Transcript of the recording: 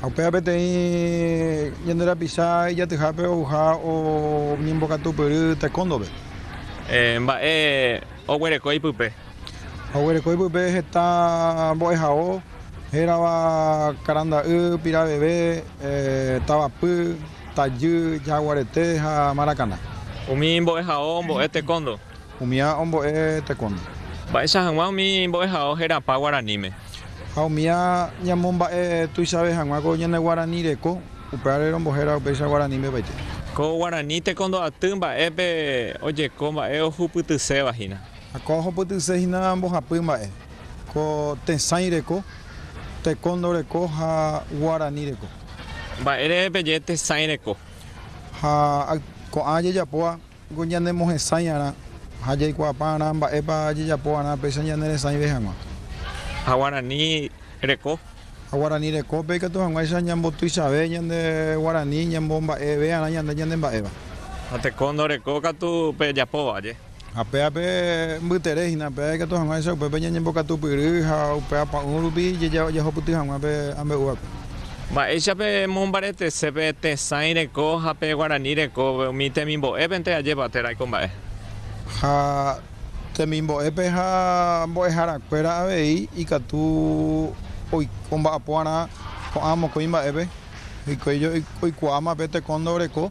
Ha upéva peteĩ ñande rapicha ijatyhápe ouha oñembokatupyry taekwondo-pe. Mba'e oguereko ipype? Oguereko ipype heta mbo'ehao, hérava karanda'y, piraveve, tavapy, tajy, jaguarete ha marakana. Umi mbo'ehao ombo'e taekwondo. Umi ã ombo'e tekónte. Mba'eicha hag̃ua umi mbo'ehao herapa guaraníme. Ha umi ã ñamomba'e tuichave hag̃ua ko ñane guarani reko, upévare rombohéra upéicha guaraníme opaite. Ko guarani tekondo'aty mba'épe ojeko mba'e ohupytyséva hína. Ha ko ohupytyse hína mbohapy mba'e. Ko tesãi reko, tekondo reko ha guarani reko. Mba'ére peje tesãi reko. Ha ko'ã jejapóva Ningo ñanemohesãi'arã ha jaikuaapa'arã mba'épa jajapo'arã péicha ñaneresãive hag̃ua. Ha guarani reko. Ha guarani rekópe ikatu hag̃uáicha ñambotuichave ñande guarani ñamomba'eve'arã ñande ñanemba'éva. Ha teko ndoreko katu pe japóva aje. Ha péape mbytere hína péa ikatu hag̃uáicha upépe ñañembokatupyry ha upe apa'ũ rupi jajahupyty hag̃ua pe ambe'úvape. Mba'éicha pe mombaretese pe tesãi reko ha pe guarani reko umi temimbo'épente ajépa térã ko mba'e. Ha temimbo'épe ha mbo'ehara kuéra avei ikatu omba'apo'arã ko'ã mokõi mba'épe, hikuái oikuaáma pe tekóndo reko.